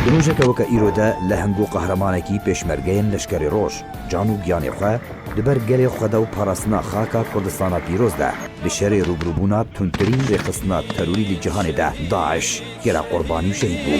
Di rojeke weke îro de lehim bû qehremanekî pêşmergeyên Leşkerê Roj, can û giyanê xwe di ber gelê xwe de û parastina xaka Kurdistana pîroz de, di şerê rûbirûbûna tundtirîn rêxistina terorî li cîhanê de, DAIŞ, Gera qurbanî û şehîd bû.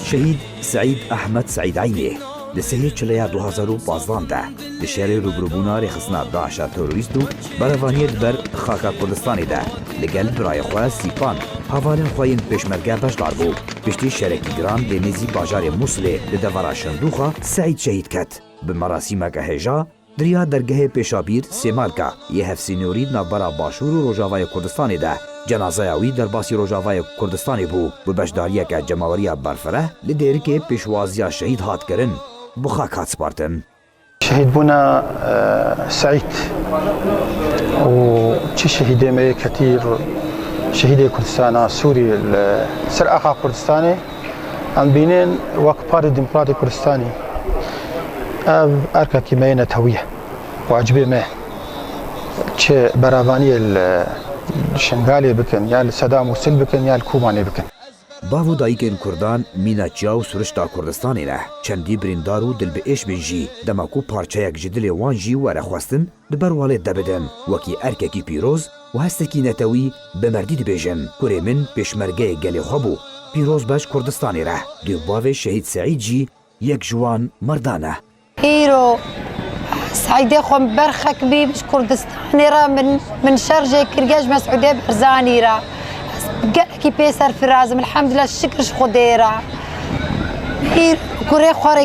Şehîd Seîd Ehmed Seîd Eynê di sêyê çileya du hezar û pazdeh de di şerê rûbirûbûna rêxistina DAIŞ'a terorîst û berevaniyê li ber xaka Kurdistanê de li gel birayê xwe Sîpan havalên xwe yên pêşmerge beşdar bû. Piştî şerekî giran lê nêzî bajarê Mûsilê li devera Şindûxa Seîd şehîd ket. Bi merasîmeke hêja. Diriya dergehê Pêşabîr Sêmarka yê hevsînorî di navbera Başûr û Rojavayê Kurdistanê de cenazeya wî derbasî Rojavayê Kurdistanê bû bi beşdariyeke cemaweriya berfireh li dêrikê pêşwaziya şehîd hat kirin bi xak hat spartin. Şehîdbûna Seîd û çi şehîdê me yê ketî şehîdê Kurdistana Sûrî li ser axa Kurdistanê. Em bînên wek Partî Demokratê Kurdistanê ev erkekî me yê netewî ye. Wacibê me çi beravaniyê li Şingalê bikin ya li Sedam û Sil bikin ya li Kobanê bikin. Bav û dayikên Kurdan mîna çiya û sirişta Kurdistanê ne. Çendî birîndar û dilbiêş bên jî, dema ku parçeyek ji dilê wan jî were xwestin, Di ber walêt de bidim, wekî erkekî pîroz û hestekî netewî bi merdî dibêjim, kurê min pêşmergeyê gelê xwe bû, pîroz be ji Kurdistanê re. Duyê bavê Şehîd Seîd jî yek ji wan merdan e. Îro Seîdê xwe min ber xekibî ji Kurdistanê re min min şerjê kiriye ji Mesûdê Berzanî re. Ez gelekî pê serfiraz im, elhemdulillah, şikir ji Xwedê re. Îro kurê xwe rê.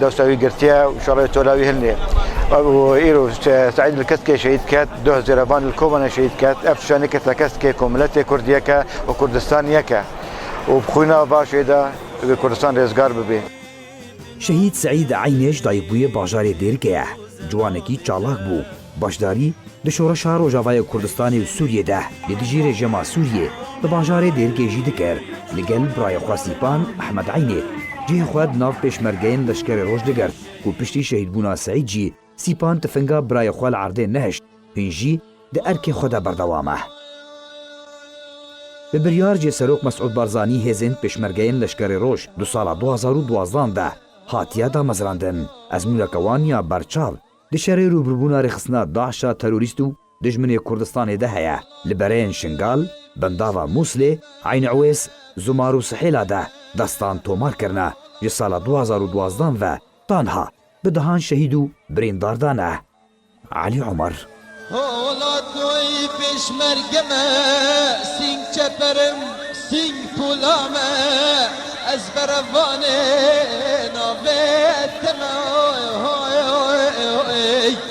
Dosta wî girtiye û şerê tola wî hilnê. Ew îro Seîd li Keskê şehîd ket, duh zêrevan li Kobanê şehîd ket. Ev tişta nekirta Keskê ku miletê Kurd yek e û Kurdistan yek e û bi xwîna başê de divê Kurdistan rêzgar bibê. Şehîd Seîd Eynêş dayikbûyê bajarê Dêrkê ye. Ciwanekî çalak bû. Beşdarî di şoreşa Rojavayê Kurdistanê û Sûriyê de li dijî rejîma Sûriyê di bajarê Dêrikê jî dikir. Li gel birayê xwe Sîpan Ehmed Eynê cihê xwe di nav pêşmergeyên leşkerê roj digirt ku piştî şehîdbûna Seîd jî Sîpan tifinga birayê xwe li erdê nehişt hîn jî di erkê xwe de berdewam e. Bi biryar cê Serok Mesûd Barzanî hêzên pêşmergeyên leşkerê roj di sala du hezar û duwazdeh de hatiye damezrandin. Ezmûneke wan ya berçav. Di şerê rûbirûbûna rêxistina DAIŞ a terorîst û dijminê Kurdistanê de heye, li bereyên Şingal, Bindava Mûslê, Eyn Ewês, Zumar û Sihêla de destan tomar kirine, ji sala du hezar û duwazdeh ve tanha bi dehan şehîd û birîndar dane. Elî Omar. Hola toy pêşmerge me, sîng çeperim, sîng pûla me, ez berevanê navê te me oy hoy oy.